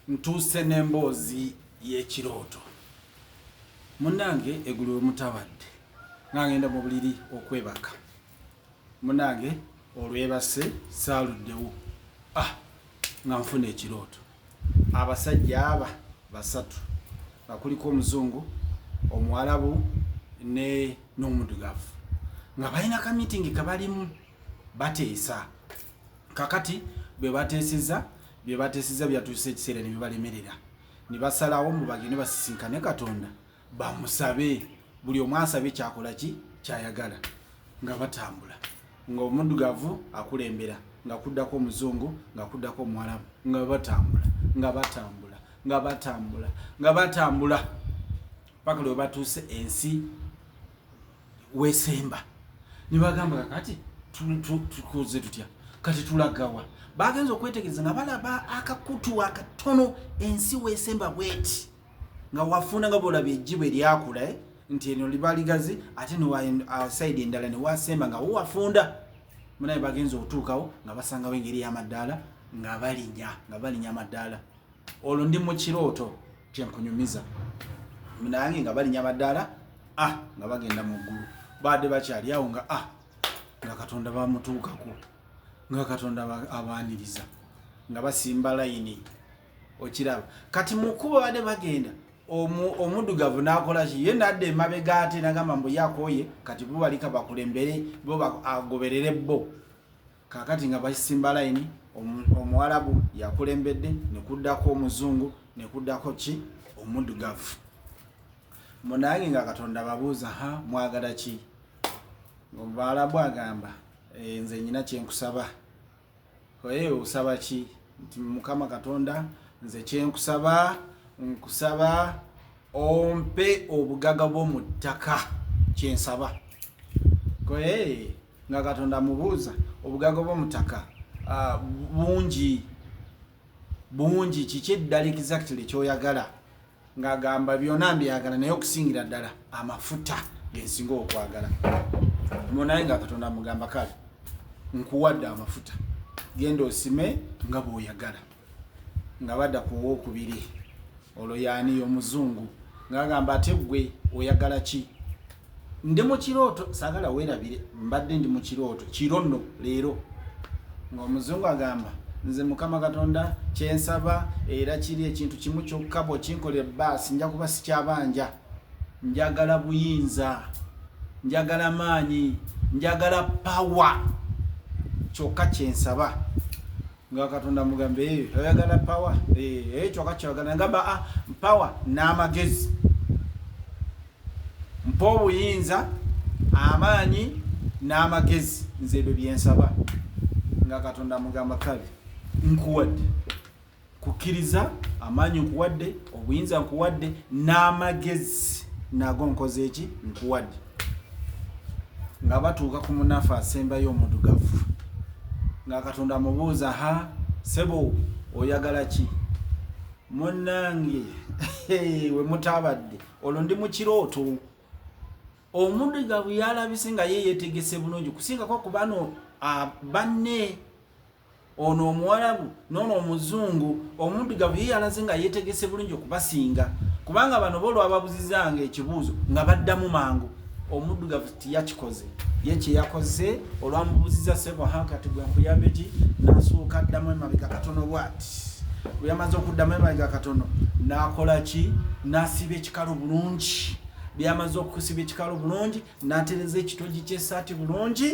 Ntuuse n'emboozi y'ekirooto. Munnange egulu we mutabadde nga ngenda mu buliri okwebaka. Munnange olwebase saaluddewo ah nga nfuna ekirooto. Abasajja aba basatu nga kuliko omuzungu, omuwalabu ne n'omudugavu nga balina ka miitingi ke balimu bateesa. Kakati bwe bateeseza Bye bateesezza byatuuse ekiseera ne bibalemerera ne basalawo mbu bagende basisinkane Katonda bamusabe buli omu asabe kyakola ki kyayagala nga batambula ng'omuddugavu akulembera nga kuddako omuzungu nga kuddako omuwalabu nga batambula nga batambula nga batambula nga batambula paka lwe batuuse ensi wesemba nibagamba kakati tukoze tutya kati tulagawa bagenze okwetegereza nga balaba akakutu akatono ensi wesemba bweti nga wafuna nga bolaba ejjibwe lyakula eh? nti eno liba ligazi ate niwasaidi uh, endala newasemba nga wowafunda munaye bagenza okutuukawo nga basangawo engeri y'amaddaala nga balinya nga balinya amaddaala olwo ndi mu kirooto kyenkunyumiza nange nga balinya madaala ah, nga bagenda mu ggulu baadde bakyali awo nga ah, nga katonda bamutuukako nga katonda abaaniriza nga basimba layini okiraba kati mukuba baadde bagenda omudugavu nakolaki ye nadde emabega ate nagamba mbu yakoye kati bubalika bakulembere bo agoberere bo kakati nga basimba layini omuwalabu yakulembedde nekuddako omuzungu nekuddako ki omudugavu munange nga katonda babuuza ha mwagala ki ngaomubaalabu agamba eh, nze nyina kyenkusaba oye osaba ki nti mukama katonda nze kyenkusaba nkusaba ompe obugaga bwo mu ttaka kyensaba koye nga katonda amubuuza obugagga bwomutaka ah, bungi bungi kiki eddala exactly kyoyagala ngaagamba byona mbyagala naye okusingira ddala amafuta gensinga okwagala munaye nga katonda amugamba kale nkuwadde amafuta genda osime nga bwoyagala nga badda ku owokubiri olwo yaani yomuzungu ngagamba ate gwe oyagala ki ndi mukirooto sagala werabire mbadde ndi mukirooto kiro nno leero ngaomuzungu agamba nze mukama katonda kyensaba era kiri ekintu kimu kyokka bwokinkolera baasi nja kuba sikyabanja njagala buyinza njagala maanyi njagala pawa kyokka kyensaba nga katonda mugambe eyo eh, oyagala pawa eh, eyo eh, kyoka kyoyagala ngamba ah, pawa n'amagezi mpa obuyinza amaanyi n'amagezi nze ebyo byensaba nga katonda mugamba kale nkuwadde kukkiriza amaanyi nkuwadde obuyinza nkuwadde n'amagezi nago nkoze eki nkuwadde nga batuuka ku munafu asembayo omudugavu nga katonda amubuuza ha sebo oyagala ki munange wemutaabadde olwo ndi mukirooto omudugavu yalabise nga ye yetegese bulungi kusingako kubano banne ono omuwalabu nono omuzungu omuddugavu ye yalaze nga yetegese bulungi okubasinga kubanga bano bo olwababuzizanga ekibuuzo nga baddamu mangu omuddugavu tiyakikoze ye kyeyakoze olwamubuziza sebo hankati gwe nkuyambe ki nasuuka addamu emabega katono bwati weyamaze okuddamu emabega katono nakola ki nasiba ekikalo bulungi byamaze okusiba ekikalo bulungi natereza ekitogi kyesaati bulungi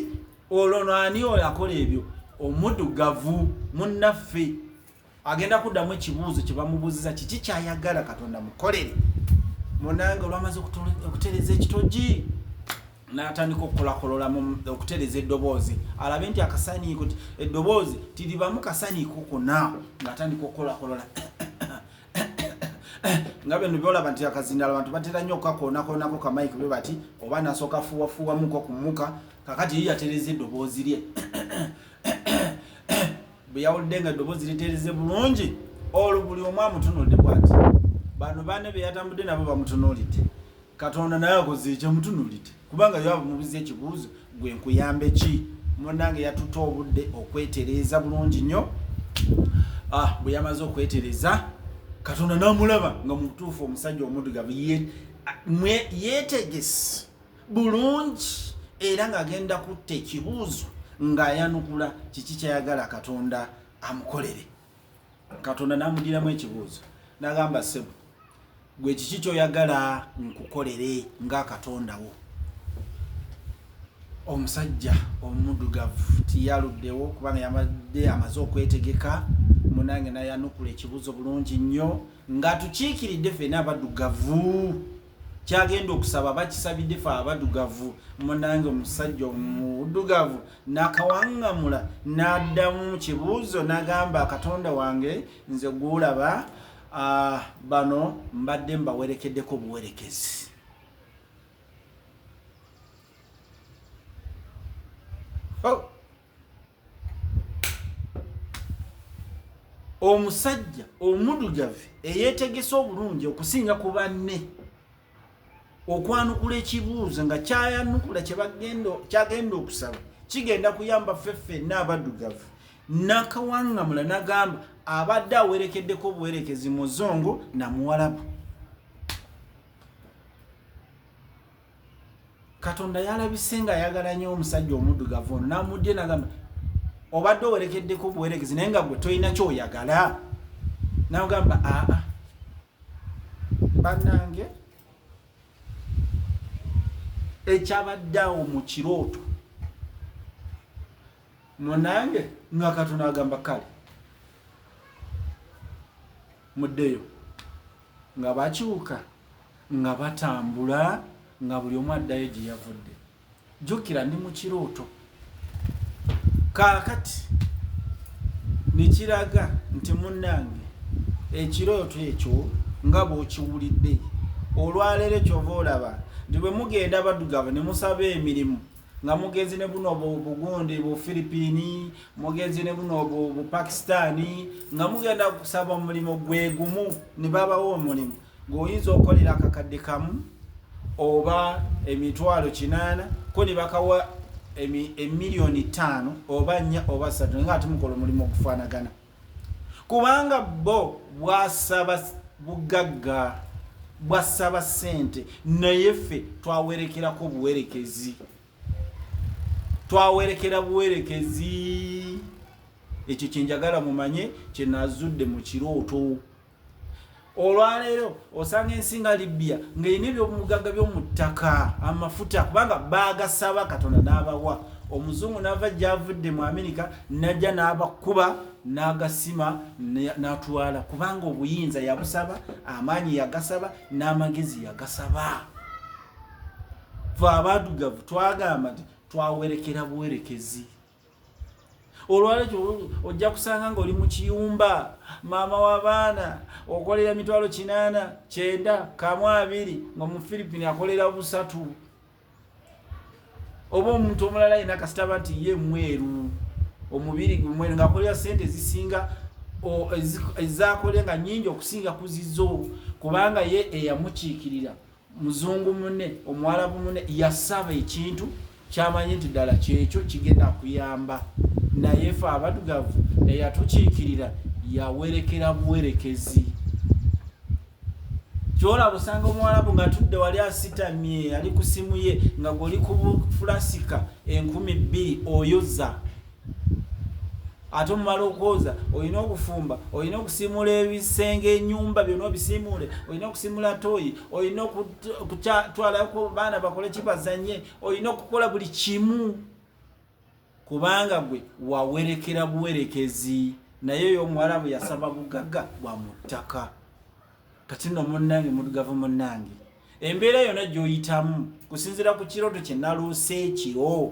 olwo no ani oyo akola ebyo omudugavu munnaffe agenda kuddamu ekibuuzo kye bamubuuziza kiki kyayagala katonda mukolere munange olwamaze okutereza ekitogi natandika okukolakolola okutereza eddoboozi alabe nti akasaniiko ti eddoboozi tiribamu kasaniiko kona ngaatandika okukolakolola nga bino byolaba nti akazindala abantu batera nnyo okukakoonakoonako kamayike bwe bati oba nasooka fuwafuwamuko kumuka kakati ye yatereza eddoboozi lye bwe yawulidde nga eddoboozi litereze bulungi olwo buli omu amutunulidde bwati bano bane be yatambudde nabo bamutunulidde katonda naye akoze ekyamutunulidde kubanga yo abamubuza ekibuuzo gwe nkuyambe ki munange yatutte obudde okwetereeza bulungi nnyo ah, bwe yamaze okwetereza katonda namulaba nga mubutuufu omusajja omudugavu yetegesi bulungi era ng'agenda kutta ekibuuzo ng'ayanukula kiki kyayagala katonda amukolere katonda n'amudiramu ekibuuzo n'agamba sebo gwe kiki kyoyagala nkukolere nga katondawo omusajja omudugavu tiyaluddewo kubanga yabadde amaze okwetegeka munange nayanukula ekibuuzo bulungi nnyo nga tukiikiridde fena abadugavu kyagenda okusaba bakisabidde fe abadugavu munange omusajja omudugavu nakawangamula nadamu mukibuuzo nagamba katonda wange nze gwolaba ah, bano mbadde mbawerekeddeko obuwerekezi oh. omusajja omudugavu eyetegese obulungi okusinga ku banne okwanukula ekibuuzo nga kyayanukula kyagenda okusaba kigenda kuyamba ffe ffenna abadugavu nakawangamula nagamba abadde awerekeddeko obuwerekezi muzungu namuwalabu katonda yalabise nga ayagala nyo omusajja omuddugavu ono namuddye nagamba obadde owerekeddeko obuweregezi naye nga gwe tolina kyoyagala nagamba aa banange ekyabadde awo mu kirooto munange nga katonda agamba kale muddeyo nga bakyuka nga batambula nga buli omu addayo gye yavudde jjukira ndi mu kirooto kaakati ne kiraga nti munnange ekirooto ekyo nga bw'okiwulidde olwaleero kyova olaba nti bwe mugenda baddugavu ne musaba emirimu nga mugenzi ne buno bugundi bu philippine mugenzi ne buno bu pakistani nga mugenda kusaba omulimu gwe gumu ne babawo omulimu ng'oyinza okukolera akakadde kamu oba emitwalo kinaana ko ne bakawa emiliyoni ttaano oba nnya oba ssatu nga ate mukola omulimu okufaanagana kubanga bo bwasaba bugagga bwasaba ssente naye ffe twawerekerako obuwerekezi twawerekera buwerekezi ekyo kyenjagala mumanye kyenazudde mu kirooto olwaleero osanga ensi nga libya ngaerina ebyobumugagga byomuttaka amafuta kubanga bagasaba katonda n'abawa omuzungu nava gyavudde mu amerika najja n'abakuba n'agasima n'atwala kubanga obuyinza yabusaba amaanyi yagasaba n'amagezi yagasaba fe abadugavu twagamba nti twawerekera buwerekezi olwalekyo ojja kusanga ngaoli mu kiyumba maama w'abaana okolera mitwalo kinaana kyenda kamu abiri nga omufirippini akolera busatu oba omuntu omulala yina kasitaba nti ye mweru omubiri gumweru ngaakolera sente ezisinga ezakolenga nyingi okusinga kuzizo kubanga ye eyamukiikirira muzungu mune omuwalabu mune yasaba ekintu kyamanyi nti ddala kyekyo kigenda kuyamba naye fe abadugavu eyatukiikirira yawerekera buwerekezi kyolaba osanga omuwalabu nga tudde wali asitamye ali ku simu ye nga goli ku fulasika enkumi bbiri oyoza ate omumala okwoza olina okufumba olina okusimula ebisenge enyumba byona obisimuule olina okusimula toyi olina okutwalako baana bakole kibazanye olina okukola buli kimu kubanga gwe wawerekera buwerekezi naye oyo omuwala bwe yasaba bugaga bwa mu ttaka kati no munnange mudugavu munnange embeera yona gyoyitamu kusinzira ku kirooto kyenaloose ekiro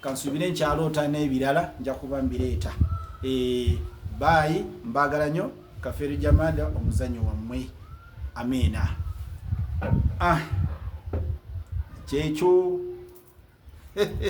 kansuubire nkyaloota n'ebirala nja kuba mbireeta eh, baayi mbaagala nyo kafeero jamada omuzanyo wammwe amiina ah, kyekyo